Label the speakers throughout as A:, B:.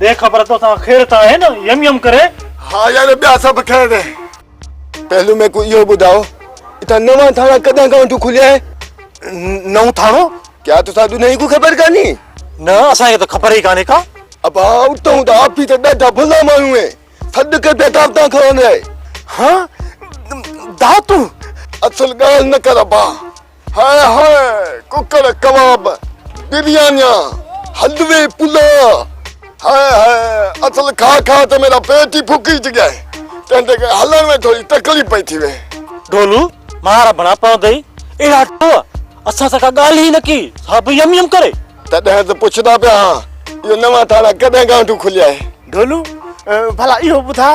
A: ڏي خبر توسان خير ته آهي نه؟ يم يم ڪري. ها يار ٻيا
B: سڀ خير آهن. پهلو ميڪو اهو ٻڌاء اتان نوان ٿاڻا ڪڏهن کان وٺون کليا آهن؟ نئون
A: ٿاڻو؟ ڪيا توسان ڏنهي
B: کون خبر ڪانهي؟ نه اسان کي
A: ته خبر ئي ڪانهي ڪا. ابا اتان
B: ته آپي ته ڏاڍا ڀلا ماڻهو آهن سڏ ڪي پيا دعوتان کائڻ لاء. ها
A: دعوتون؟ اصل
B: ڳالهه نه ڪر ابا. هاء هاء ڪڪڙ ڪباب بريانيا حلوي پلاء هاء هاء اصل کاء کاء ته ميرا پيٽ ئي ڦڪي جڳيا هي تنهن تي ڪري هلڻ ۾ ٿوري تڪليف پئي ٿي وئي. ڍولو
A: مار ڀڻا پوندئي اهڙا ٽو اسان سان ڪا ڳالهه ئي نه ڪي سا به يم يم ڪري. تڏهن ته پڇندا
B: پيا ها اهو نوان ٿاڻا ڪڏهن گانٺون کليا هي. ڍولو
A: ڀلا اهو ٻڌاء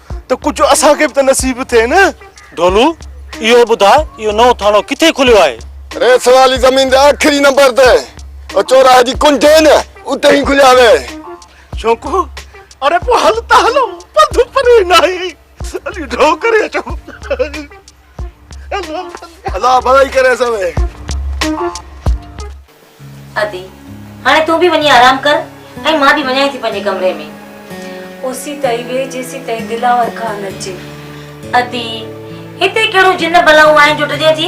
A: ته ڪجهه اسان کي به ته نصيب ٿئي نه. ڍولو اهو ٻڌاء اهو نئون ٿاڻو ڪٿي کليو آهي؟ ريس واري زمين
B: جي آخري نمبر تي او چوراهي جي ڪنڊي نه اتي ئي کليو آهي. شونڪو
A: اڙي پوء هل ته هلون پنڌ پري ناهي علي ڍو ڪري اچون.
B: الله بھلائي ڪري اسان ۾
C: ادي هاڻي تون به وڃي آرام ڪر ۽ مان به وڃان ٿي پنهنجي ڪمري ۾ اسي تائي ويهه
D: جيسي تائي دلاور کان اچي ادي
C: هتي ڪهڙو جن بلاون آهن جو ڊڄين ٿي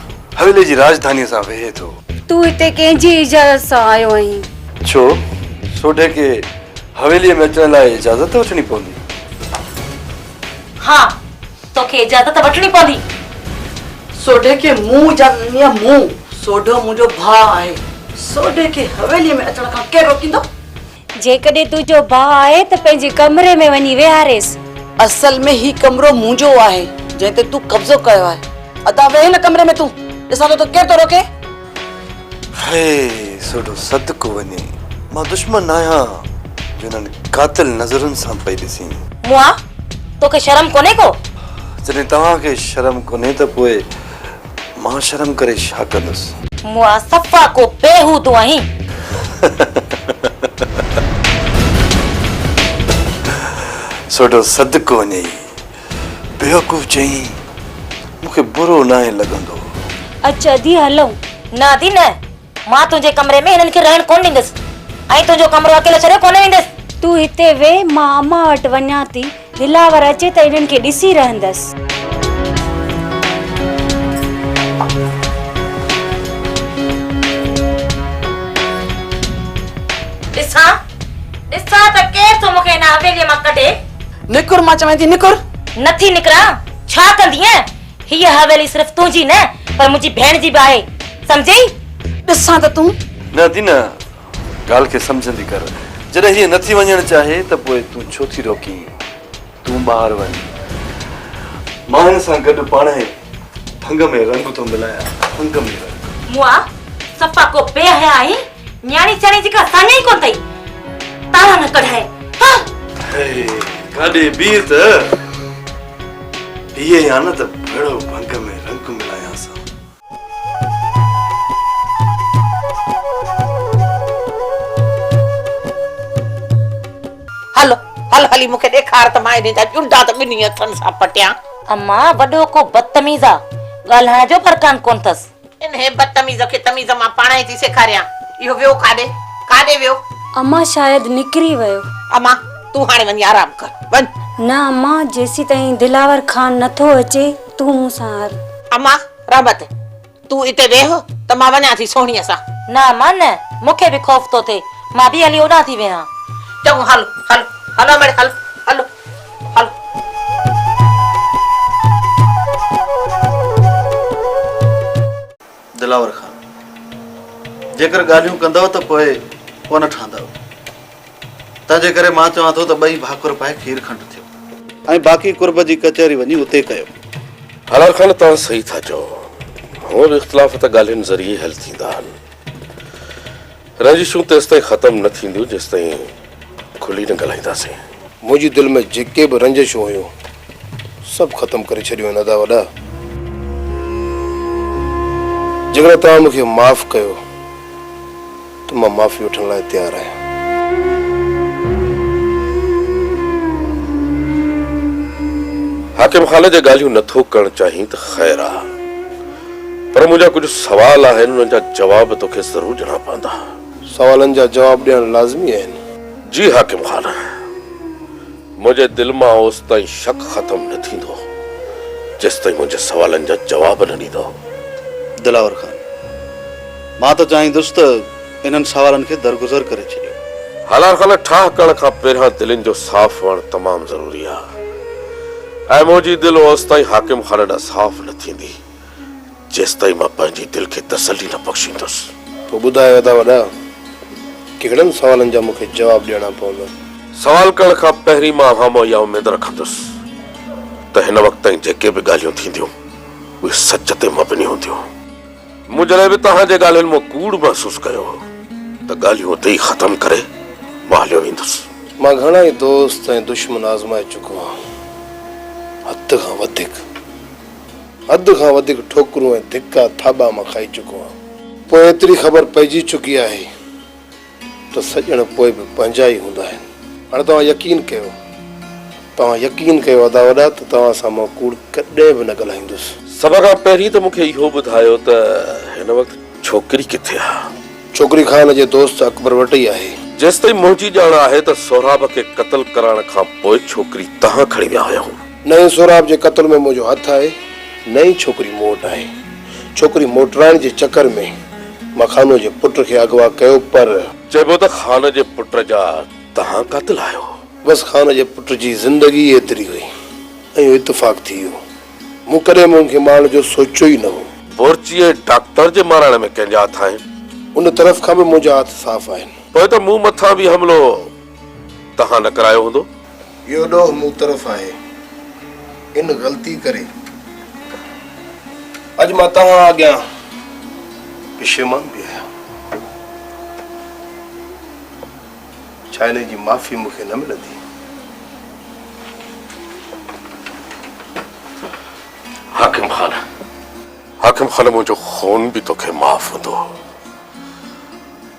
E: حويلي جي راڄڌانيء سان ويهي ٿو. تون هتي ڪنهن
D: جي اجازت سان آيو آهين؟ ڇو؟
E: سوڍي کي حويليء ۾ اچڻ لاء اجازت وٺڻي پوندي. ها،
C: توکي اجازت وٺڻي پوندي.
F: سوڍي کي مون اجازت ڏني آهي، مون. سوڍو منهنجو ڀاء آهي. سوڍي کي حويليء ۾ اچڻ کان ڪير روڪيندو؟ جيڪڏهن
D: تنهنجو ڀاء آهي ته پنهنجي ڪمري ۾ وڃي ويهاريس. اصل ۾ هي
F: ڪمرو منهنجو آهي جنهن تي تون قبضو ڪيو آهي. ادا ويهه هن ڪمري ۾ تون ڏسان ٿو ته ڪير ٿو روڪي.
E: هي سوڍو صدقو وڃي مان دشمن آهيان جو انهن قاتل نظرن سان پئي ڏسين. موئا
C: توکي شرم ڪونهي ڪو. جڏهن توهان
E: کي شرم ڪونهي ته پوء. مان شرم ڪري ڇا ڪندس. مون آ صفا ڪو
C: بيهودو آهين.
E: سوڍو صدقو وڃئي بيوقوف چيائين، مون کي برو ناهي لڳندو. اچ ادي
D: هلون. نه ادي نه.
C: مان تنهنجي ڪمري ۾ هنن کي رهڻ ڪونه ڏيندس ۽ تنهنجو ڪمرو اڪيلو ڇڏي ڪونه ويندس. تون هتي ويهه،
D: مان امان وٽ وڃان ٿي. دلاور اچي ته هنن کي ڏسي رهندس. ڏسان، ڏسان
C: ته ڪير ٿو مون کي هن حويليء مان ڪڍي. نڪر، مان چوين
F: ٿي نڪر. نٿي نڪران،
C: ڇا ڪندينء؟ هيء حويلي صرف تنهنجي نه پر منهنجي ڀيڻ جي به آهي، سمجهيئي؟ ڏسان ته
F: تون. نه دينا،
E: ڳالهه کي سمجهندي ڪر. جڏهن هيء نٿي وڃڻ چاهي ته پوء تون ڇو ٿي روڪين؟ تون ٻاهر وڃ. مان هن سان گڏ پاڻ هي ڀنگ ۾ رنگ ٿو ملايان، ڀنگ ۾ رنگ. موئا، صفا
C: ڪو بي حيا آهين، نياڻي چياڻي جي ڪا ساڃاهه ئي ڪونه اٿئي. تاڙا نه ڪڍايئي، هه! هيء
E: ڪاڏي بيهه ته. پيئي يا نه ته ڀڙو ڀنگ ۾ رنگ ملايان سان.
F: هل هل هلي مون کي ڏيکار ته مان انهن جا ڄنڊا ته ٻنهي هٿن سان پٽيان. امان وڏو
C: ڪو بدتميز آ ڳالهائڻ جو برڪان ڪونه ٿس. انهيء بدتميز کي
F: تميز مان پاڻهين ٿي سيکاريان. اهو ويو ڪاڏي؟ ڪاڏي ويو؟ امان شايد
D: نڪري ويو. امان! تون
F: هاڻي وڃي آرام ڪر. وڃ! نه امان،
D: جيسيتائين دلاور خان نه ٿو اچي، تون مون سان هل. امان!
F: رحمت! تون اتي ويهه ته مان وڃان ٿي سهڻيء سان. نه امان نه،
C: مون کي به خوف ٿو ٿئي. مان به هلي اوڏانهن ٿي ويهان. چڱو هل،
F: هل، هل امڙي هل، هل.
G: دلاور خان، جيڪر ڳالهيون ڪندؤ ته پوء ڪونه ٺهندؤ. تنهنجي ڪري مان چوان ٿو ته ٻئي ڀاڪر پائي کير کنڊ ٿيو. ۽ باقي قرب جي ڪچهري وڃي اتي ڪيو. هالار خان،
H: توهان صحيح ٿا چئو. هونء به اختلاف ته ڳالهين ذريعي ئي حل ٿيندا آهن. رنجشون تيستائين ختم نه ٿينديون جيستائين کلي نه ڳالهائينداسين. منهنجي دل ۾
I: جيڪي به رنجشون هيون سڀ ختم ڪري ڇڏيون آهن ادا وڏا. جيڪڏهن توهان مون کي معاف ڪيو ته مان معافي وٺڻ لاء تيار آهيان.
H: حاڪم خالد جي ڳالهيون نه ٿو ڪرڻ چاهين ته خير آ. پر منهنجا ڪجهه سوال آهن انهن جا جواب توکي ضرور ڏيڻا پوندا. سوالن جا
I: جواب ڏيڻ لازمي آهن. جي حاڪم
H: خان. منهنجي دل مان اوستائين شڪ ختم نه ٿيندو جيستائين منهنجي سوالن جا جواب نه ڏيندو. دلاور
G: خان. مان ته چاهيندس ته. انهن سوالن کي درگذر ڪري ڇڏيو. هلار کان نه
H: ٺاهه ڪرڻ کان پهريان دلين جو صاف هئڻ تمام ضروري آ. اي منهنجي دل اوستائين حاڪم خان ڏانهن صاف نه ٿيندي جيستائين مان پنهنجي دل کي تسلي نه بخشيندس. پوء ٻڌايو ادا
I: وڏا ڪهڙن سوالن جا مون کي جواب ڏيڻا پوندا؟ سوال ڪرڻ
H: کان پهرين مان اوهان مان اها اميد رکندس ته هن وقت تائين جيڪي به ڳالهيون ٿينديون اهي سچ تي مبني هونديون. مون جڏهن به توهان جي ڳالهين مان ڪوڙ محسوس ڪيو هو ته ڳالهيون اتي ئي ختم ڪري مان هليو ويندس. مان گهڻا ئي
I: دوست ۽ دشمن آزمائي چڪو آهيان. حد کان وڌيڪ حد کان وڌيڪ ٺوڪرون ۽ ڌڪا ٿاٻا مان کائي چڪو آهيان. پوء ايتري خبر پئجي چڪي آهي ته سڄڻ پوء به پنهنجا ئي هوندا آهن. هاڻي توهان يقين ڪيو. توهان يقين ڪيو ادا وڏا ته توهان سان مان ڪوڙ ڪڏهن به نه ڳالهائيندس. سڀ کان پهرين
H: ته مون کي اهو ٻڌايو ته هن وقت ڇوڪري ڪٿي آهي؟ ڇوڪري خان
I: جي دوست اڪبر وٽ ئي آهي. جيستائين منهنجي ڄاڻ
H: آهي ته سهراب کي قتل ڪرائڻ کان پوء ڇوڪري توهان کڻي ويا هيا. نه ئي سهراب جي
I: قتل ۾ منهنجو هٿ آهي نه ئي ڇوڪري مون وٽ آهي. ڇوڪري موٽرائڻ جي چڪر ۾ مان خانوء جي پٽ کي اغوا ڪيو پر. چئبو ته خان
H: جي پٽ جا توهان قاتل آهيو. بس خان جي
I: پٽ جي زندگي ئي ايتري هئي ۽ اهو اتفاق ٿي ويو. مون ڪڏهن به ان کي مارڻ جو سوچيو ئي نه هو. بورچيء ڊاڪٽر
H: جي مارائڻ ۾ ڪنهن جا هٿ آهن؟ ان طرف کان
I: به منهنجا هٿ صاف آهن. پوء ته مون مٿان
H: به حملو توهان نه ڪرايو هوندو. اهو ڏوهه
I: مون طرف آهي، ان غلطي ڪري اڄ مان توهان اڳيان پشيمان به آهيان. ڇا ان جي معافي مون کي نه ملندي؟
H: حاڪم خان، حاڪم خان منهنجو خون به توکي معاف هوندو.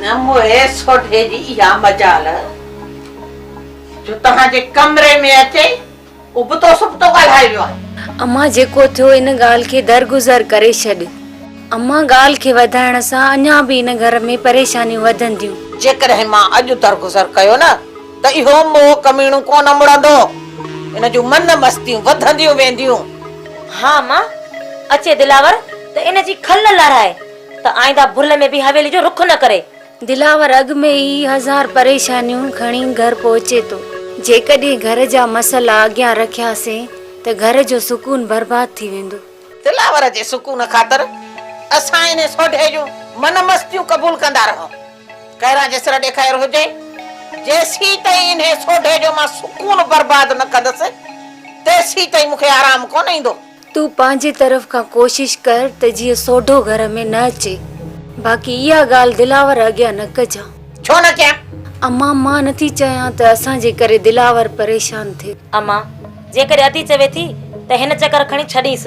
F: نه موهي سوڍي جي اها مجال جو توهان جي ڪمري ۾ اچي ابتو سبتو ڳالهائي ويو آهي. امان جيڪو ٿيو
D: ان ڳالهه کي درگذر ڪري ڇڏ. امان ڳالهه کي وڌائڻ سان اڃا به ان گهر ۾ پريشانيون وڌنديون. جيڪڏهن مان
F: اڄ درگذر ڪيو نه. ته اهو موهه ڪميڻو ڪونه مڙندو. ان جون من مستيون وڌنديون وينديون. ها ماء!
C: اچي دلاور ته ان جي کل نه لارائي ته آئنده ڀل ۾ به حويلي جو رخ نه ڪري. دلاور اڳ
D: ۾ ئي هزار پريشانيون کڻي گهر پهچي ٿو. جيڪڏهن گهر جا مسئلا اڳيان رکياسين ته گهر جو سڪون برباد ٿي ويندو. دلاور جي
F: سڪون خاطر اسان انهي سوڍي جون من مستيون قبول ڪندا رهون. ڪهران جيسر ڏيکاير هجي، جيسين تائين انهي سوڍي جو مان سڪون برباد نه ڪندس، تيسين تائين مون کي آرام ڪونه ايندو. تون پنهنجي
D: طرف کان ڪوشش ڪر ته جيئن سوڍو گهر ۾ نه اچي، باقي اها ڳالهه دلاور اڳيان نه ڪجان. ڇو نه ڪيان؟
F: اما، مان نٿي
D: چاهيان ته اسان جي ڪري دلاور پريشان ٿئي. اما،
C: جيڪڏهن ادي چوي ٿي ته هن چڪر کڻي ڇڏينس.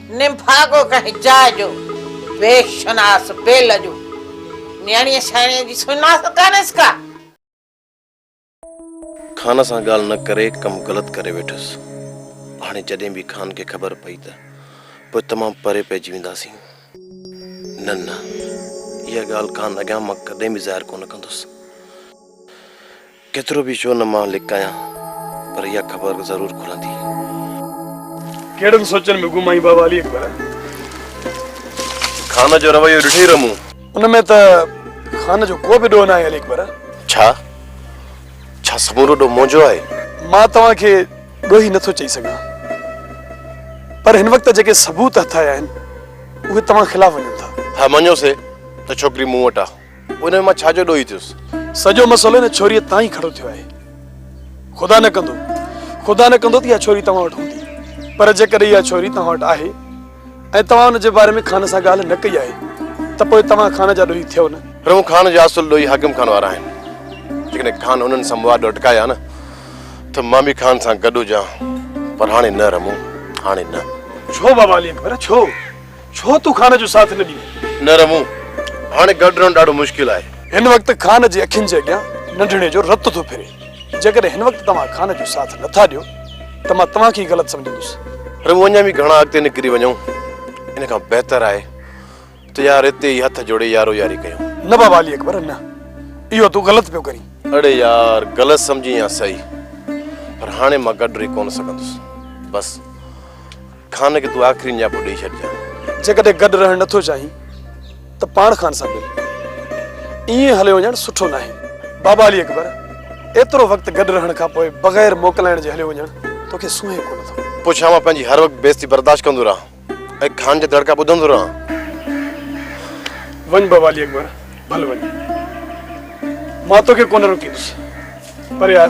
F: نڀاڳو ڪنهن جاء جو، بي شناس بي لڄو. نياڻيء سياڻيء جي سڃاڻپ ڪانهيس ڪا.
I: خان سان ڳالهه نه ڪري ڪم غلط ڪري ويٺس. هاڻي جڏهن به خان کي خبر پئي ته پوء تمام پري پئجي وينداسين. نه نه اها ڳالهه خان اڳيان مان ڪڏهن به ظاهر ڪونه ڪندس. ڪيترو به ڇو نه مان لڪايان پر اها خبر ضرور کلندي.
J: ڪهڙن سوچن ۾ گم آهين بابا علي اڪبر.
I: خان جو رويو ڏٺئي رهه مون. ان ۾ ته
J: خان جو ڪو به ڏوهه ناهي علي اڪبر. ڇا؟
I: ڇا سمورو ڏوهه منهنجو آهي؟ مان توهان کي
J: ڏوهي نٿو چئي سگهان پر هن وقت جيڪي ثبوت هٿ آيا آهن اهي توهان خلاف وڃن ٿا. ها مڃيو سي
I: ته ڇوڪري مون وٽ آهي. پوء ان ۾ مان ڇا جو ڏوهي ٿيس؟ سڄو مسئلو ان
J: ڇوريء تان ئي کڙو ٿيو آهي. خدا نه ڪندو، خدا نه ڪندو ته اها ڇوري توهان وٽ هوندي. پر جيڪڏهن اها ڇوري توهان وٽ آهي ۽ توهان ان جي باري ۾ خان سان ڳالهه نه ڪئي آهي ته پوء توهان خان جا ڏوهي ٿيو نه. پر هو خان جا اصل
I: ڏوهي حاڪم خان وارا آهن. جيڪڏهن خان انهن سان مواڏ اٽڪائي ها نه ته مان به خان سان گڏ هجان. پر هاڻي نه رمون، هاڻي نه. ڇو بابا علي
J: اڪبر، ڇو؟ ڇو تون خان جو ساٿ نه ڏينء؟ نه رمون،
I: هاڻي گڏ رهڻ ڏاڍو مشڪل آهي. هن وقت خان جي
J: اکين جي اڳيان ننڍڙي جو رت ٿو ڦري. جيڪڏهن هن وقت توهان خان جو ساٿ نه ٿا ڏيو ته مان توهان کي ئي غلط سمجهندس. رمون اڃا به گهڻا اڳتي
I: نڪري وڃون، ان کان بهتر آهي ته يار اتي ئي هٿ جوڙي يارو ياري ڪيون. نه بابا علي اڪبر نه،
J: اهو تون غلط پيو ڪرين. اڙي يار
I: غلط سمجهين يا صحيح پر هاڻي مان گڏ رهي ڪونه سگهندس. بس. خان کي تون آخري نياپو ڏئي ڇڏجان. جيڪڏهن گڏ رهڻ نه ٿو
J: چاهين ته پاڻ خان سان مل. ائين هليو وڃڻ سٺو ناهي. بابا علي اڪبر، ايترو وقت گڏ رهڻ کان پوء بغير موڪلائڻ جي هليو وڃڻ توکي سونهين ڪونه ٿو. پوء ڇا مان پنهنجي هر
I: وقت بي عزتي برداشت ڪندو رهان ۽ خان جا دڙڪا ٻڌندو رهان؟
J: وڃ بابا علي اڪبر، ڀل وڃ. مان توکي ڪونه روڪيندس. پر يار!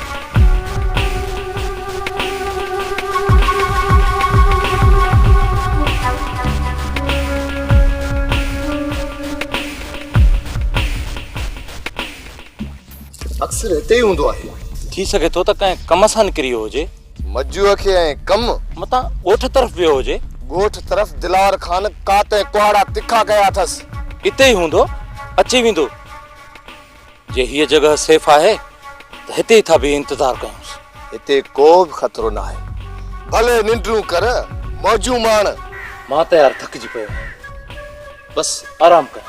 I: اڪثر هتي ئي هوندو آهي. ٿي سگهي ٿو ته
A: ڪنهن ڪم سان نڪري ويو هجي. مجوء کي ۽
I: ڪم. متان ڳوٺ
A: طرف ويو هجي. ڳوٺ طرف
I: دلاور خان ڪات ۽ ڪهاڙا تکا ڪيا اٿس. اتي ئي هوندو،
A: اچي ويندو. جي هيء جڳهه سيف آهي ته هتي ئي ٿا بيهي انتظار ڪيونس. هتي ڪو
I: به خطرو ناهي. ڀلي ننڊون ڪر، موجون ماڻ. مان ته يار
A: ٿڪجي پيو آهيان. بس آرام ڪر.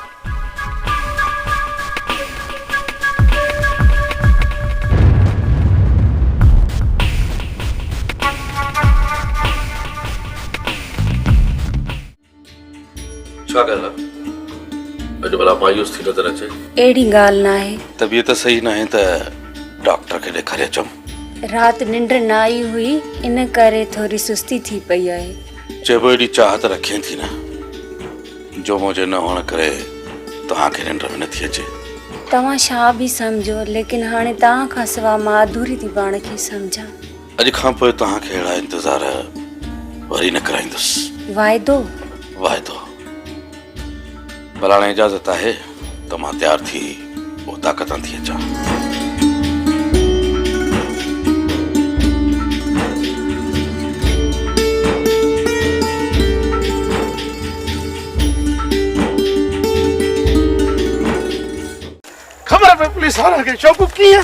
H: ڇا ڪري ها اڄ ڀلا مايوس ٿي نظر اچي. اهڙي ڳالهه ناهي.
D: طبيعت صحيح ناهي
H: ته ڊاڪٽر کي ڏيکاري اچم. رات ننڊ نه
D: آئي هئي ان ڪري ٿوري سستي ٿي پئي آهي. چئبو ايڏي چاهت
H: رکين ٿي نه جو منهنجي نه هئڻ ڪري توهان کي ننڊ به نٿي اچي. توهان ڇا
D: به سمجهو ليڪن هاڻي توهان کان سوا مان اڌوري ٿي پاڻ کي سمجهان. اڄ کان پوء
H: توهان کي اهڙا انتظار وري نه ڪرائيندس. واعدو؟
D: واعدو.
H: پر هاڻي اجازت آهي ته مان تيار ٿي اوطاق تان ٿي اچان.
A: خبر پئي پوليس وارن کي شوقو ڪيئن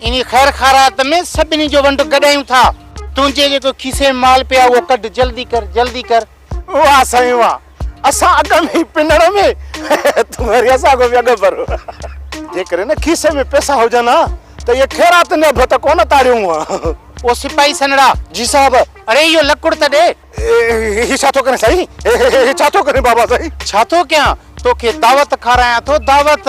A: انهيء خير
K: خائرات ۾ سڀني جو ونڊ گڏايون ٿا. تنهنجي جيڪو کيسي ۾ مال پئي آهي، اهو ڪڍ، جلدي ڪر، جلدي ڪر. واه سائين
A: واه، اسان اڳ ۾ ئي پنڻ ۾، تون وري اسان کان به اڳ ڀر. جيڪڏهن نه کيسي ۾ پئسا هجن ها ته اهي خيرات نيب به ته ڪونه تاڙيون ها. او سپاهي سنهڙا!
K: جي صاحب!
A: اڙي اهو لڪڙ ته
K: ڏي. هي ڇا ٿو
A: ڪرين سائين؟ هي ڇا ٿو ڪرين بابا سائين؟ ڇا ٿو ڪيان؟
K: توکي دعوت کارايان ٿو، دعوت!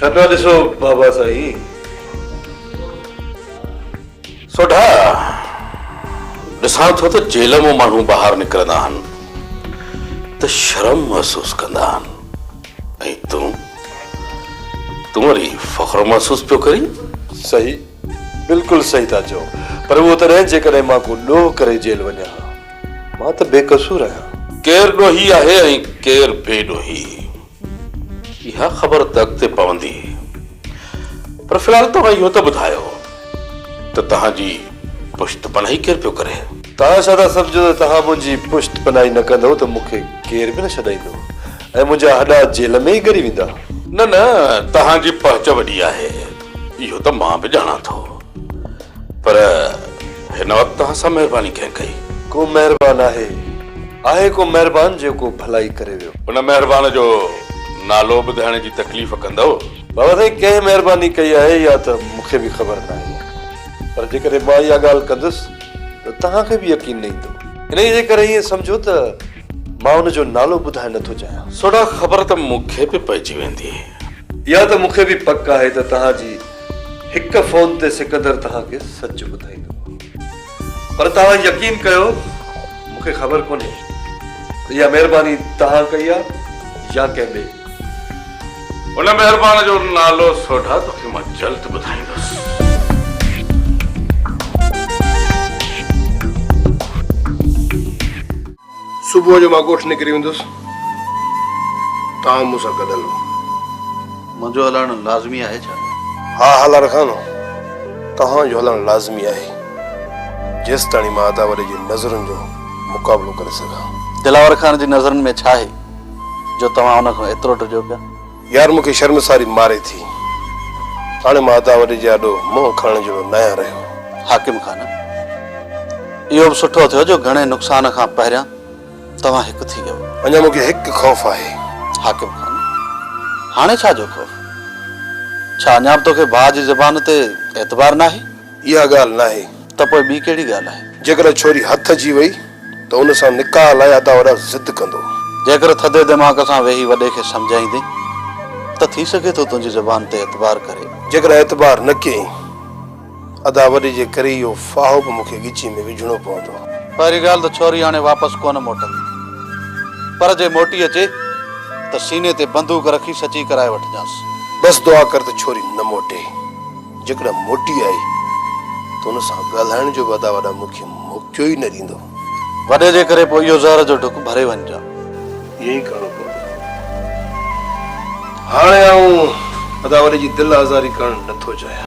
E: ڇا پيا ڏسو بابا سائين
H: سوڍا ڏسان ٿو ته جيل مون ماڻهو ٻاهر نڪرندا آهن ته شرم محسوس ڪندا آهن ۽ تون تون وري فخر محسوس پيو ڪرين صحيح
E: بلڪل صحيح ٿا چئو پر اهو تڏهن جيڪڏهن مان ڪو ڏوهه ڪري جيل وڃان ها مان ته بي قصور آهيان. ڪير ڏوهي آهي
H: ۽ ڪير بي ڏوهي اها خبر ته اڳتي پوندي پر في الحال توهان اهو ته ٻڌايو ته توهان جي پشت پناهي ڪير پيو ڪري؟ توهان ڇا ٿا سمجهو
E: ته توهان منهنجي پشت پناهي نه ڪندئو ته مون کي ڪير به نه ڇڏائيندو ۽ منهنجا هڏا جيل ۾ ئي ڳري ويندا. نه نه
H: توهان جي پهچ وڏي آهي. اهو ته مان به ڄاڻان ٿو پر هن وقت توهان سان مهرباني ڪنهن ڪئي؟ ڪو مهربان
E: آهي؟ آهي ڪو مهربان جيڪو ڀلائي ڪري ويو؟ ان مهربان جو
H: نالو ٻڌائڻ جي تڪليف ڪندؤ؟ بابا سائين ڪنهن
E: مهرباني ڪئي آهي اها ته مون کي به خبر ناهي پر جيڪڏهن مان اها ڳالهه ڪندس ته توهان کي به يقين نه ايندو انهيء جي ڪري ائين سمجهو ته مان ان جو نالو ٻڌائڻ نه ٿو چاهيان. سوڍا خبر ته
H: مون کي به پئجي ويندي. اها ته مون
E: کي به پڪ آهي ته توهان جي هڪ فون تي سڪندر توهان کي سچ ٻڌائيندو. پر توهان يقين ڪيو مون کي خبر ڪونهي ته اها مهرباني توهان ڪئي آهي يا ڪنهن ٻئي.
H: ان مهربان جو نالو سوڍا توکي مان جلد ٻڌائيندس.
B: صبح جو مان ڳوٺ نڪري ويندس توهان مون سان گڏ هلو. منهنجو
G: هلڻ لازمي آهي ڇا؟ ها هالار خان
B: توهان جو هلڻ لازمي آهي جيستاڻي مان ادا وڏي جي نظرن جو مقابلو ڪري سگهان. دلاور خان جي
G: نظرن ۾ ڇا آهي جو توهان ان کان ايترو ڊڄو پيا؟ يار مون کي
B: شرمساري ماري ٿي. هاڻي مان ادا وڏي جي آڏو منهن کڻڻ جهڙو ناهيان رهيو. حاڪم خان،
G: اهو به سٺو ٿيو جو گهڻي نقصان کان پهريان توهان هڪ ٿي ويو. اڃا مون کي هڪ خوف
B: آهي. حاڪم خان،
G: هاڻي ڇا جو خوف؟ ڇا اڃا به توکي ڀاء جي زبان تي اعتبار ناهي؟ اها ڳالهه ناهي.
B: ته پوء ٻي ڪهڙي ڳالهه
G: آهي؟ جيڪڏهن ڇوري هٿ اچي
B: وئي ته ان سان نڪاح لاء ادا وڏا ضد ڪندو. جيڪر ٿڌي
G: دماغ سان ويهي وڏي کي سمجهائيندين ته ٿي سگهي ٿو تنهنجي زبان تي اعتبار ڪري. جيڪڏهن اعتبار نه
B: ڪيئين ادا وڏي جي ڪري اهو ڦاهو به مون کي ڳچي ۾ وجهڻو پوندو. پهرين ڳالهه ته ڇوري
G: هاڻي واپس ڪونه موٽندي. پر جي موٽي اچي ته سيني تي بندوق رکي سچي ڪرائي وٺجانس. بس دعا ڪر
B: ته ڇوري نه موٽي. جيڪڏهن موٽي آئي ته ان سان ڳالهائڻ جو به ادا وڏا مون کي موقعو ئي نه ڏيندو. وڏي جي ڪري
G: پوء اهو زهر جو ڍڪ ڀري وڃجان. ائين ئي ڪرڻو
B: پوندو. هاڻي آئون ادا وڏي جي دل آزاري ڪرڻ نه ٿو چاهيان.